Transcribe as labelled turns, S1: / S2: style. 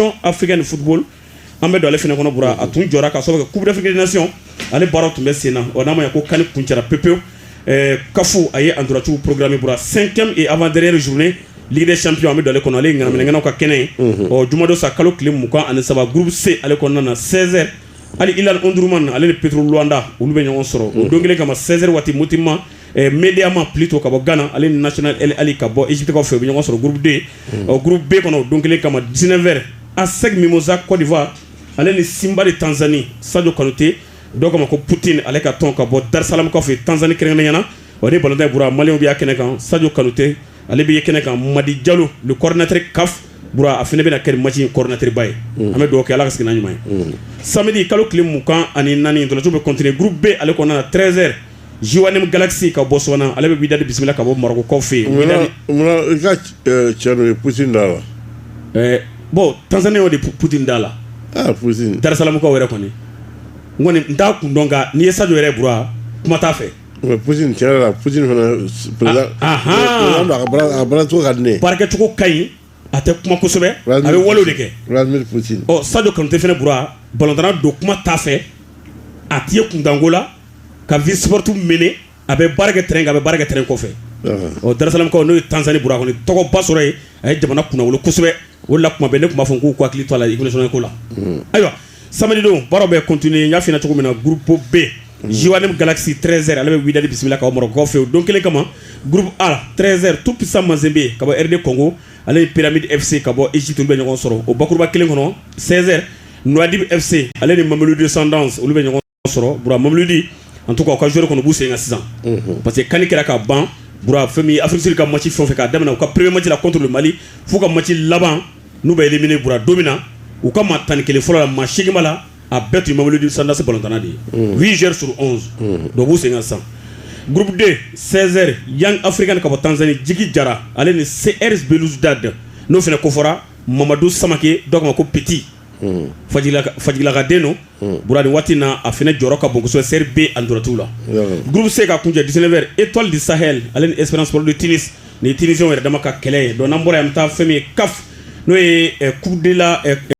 S1: tɔn africaine de football an bɛ don ale fana kɔnɔ bura a tun jɔra ka sababu kɛ coupe d'afrique des nations ale baaraw tun bɛ sen na ɔ n'a ma ɲɛ ko can kuncɛra pepewu eh, caf a ye ntolaciw programme bura cinquième et avant dernière journée ligue des champions an bɛ don ale kɔnɔ ale ye ŋanaminɛŋanaw ka kɛnɛ ye mhm. ɔ jumadon sa kalo tile mugan ani saba groupe c ale kɔnɔna na 16 heures al hilal omdurman ale ni petro luanda olu bɛ ɲɔgɔn sɔrɔ o don kelen kama 16 heures waati motema eh, medeama plutôt ka bɔ ghana ale ni national el ahly ka bɔ egyptekaw fɛ u bɛ ɲɔgɔn sɔrɔ groupe d ɔ groupe B kɔnɔ o don kelen kama 19 heures ASEC Mimosa Côte d'Ivoire ale ni Simba de Tanzanie Sadio Kanute dɔw k'a ma ko Poutine ale ka tɔn ka bɔ Dar es Salaamkaw fɛ Tanzanie kɛrɛnkɛrɛnnenya la ɔ ni balontan in bura maliyɛnw bɛ y'a kɛnɛ kan Sadio Kanute ale bɛ ye kɛnɛ kan Madi Diallo le coordinateur CAF bura a fana bɛna kɛ match in coordinateur ba ye an bɛ dugawu kɛ Ala ka segin n'a ɲuman ye samedi kalo tile mugan ani naani ntolaciw bɛ continuer groupe B ale kɔnɔna na 13 heures Jwaneng Galaxy ka bɔ Botswana ale bɛ Wydad bisimila ka bɔ Marɔkukaw fɛ
S2: yen cɛ ye Poutine da la bon
S1: Tanzaniyɛnw de Poutine da la
S2: Dar es Salaamkaw yɛrɛ
S1: kɔni n kɔni n t'a kun dɔn nka n'i ye Sadio yɛrɛ Bura kuma t'a fɛ
S2: a baarakɛcogo ka
S1: ɲi a tɛ kuma kosɛbɛ a bɛ wale de kɛ
S2: Sadio Kanute fana
S1: Bura balontanna don kuma t'a fɛ a tɛ ye kuntanko la ka vie sportive mener a bɛ baara kɛ terrain kan a bɛ baara kɛ terrain kɔfɛ ɔ darasalamukaw n'o ye Tanzani Bura kɔni tɔgɔba sɔrɔ yen a ye jamana kunnawolo kosɛbɛ o de la tuma bɛɛ ne tun b'a fɔ k'u k'u hakili to a la équipe nationale ko la ayiwa samedi don baaraw bɛ continuer n y'a f'i ɲɛna cogo min na groupe B Jwaneng Galaxy 13 heures ale bɛ Wydad bisimila ka bɔ Marɔkukaw fɛ yen o don kelen kama groupe A 13 heures tout puissant Mazembe ka bɔ RD Congo ale ni Pyramide FC ka bɔ Egypte olu bɛ ɲɔgɔn sɔrɔ o bakuruba kelen kɔnɔ 16 heures Nouadhibou FC ale ni Mamelodi Sundowns olu bɛ ɲɔgɔn sɔrɔ bura mobilidi an tɔgɔ ka zori kɔnɔ b'u sen ka sisan parce que kanni kɛra ka ban bura fɛn min afisiri ka masi fɛn fɛ k'a daminɛ u ka peree mala kɔtulu mali fo ka masi laban n'u bɛ minɛ bura don min na u ka maa tan ni kelen fɔlɔ la maa sigima la a bɛɛ tun mobilidi sandasi bɔtana de ye v zri s dɔ b'u sen ka sisan gurden sɛri yan afiri ka ka bɔ tansanni jigi jara ale ni se ris da dɛ n'o fana ko fɔra mamadu samakɛ dɔw ma ko pti fajilakaden don bu waati na a fana jɔyɔrɔ ka bonsɔ seri bɛ a dɔrɔnti la guru bɛ se ka kun cɛ di wɛrɛ e tɔli di sa ale ni esrarli tini ni tinifi yɛrɛ dama ka kɛlɛ ye dɔn bɔra an bɛ taa fɛn ye ka n'o ye kudela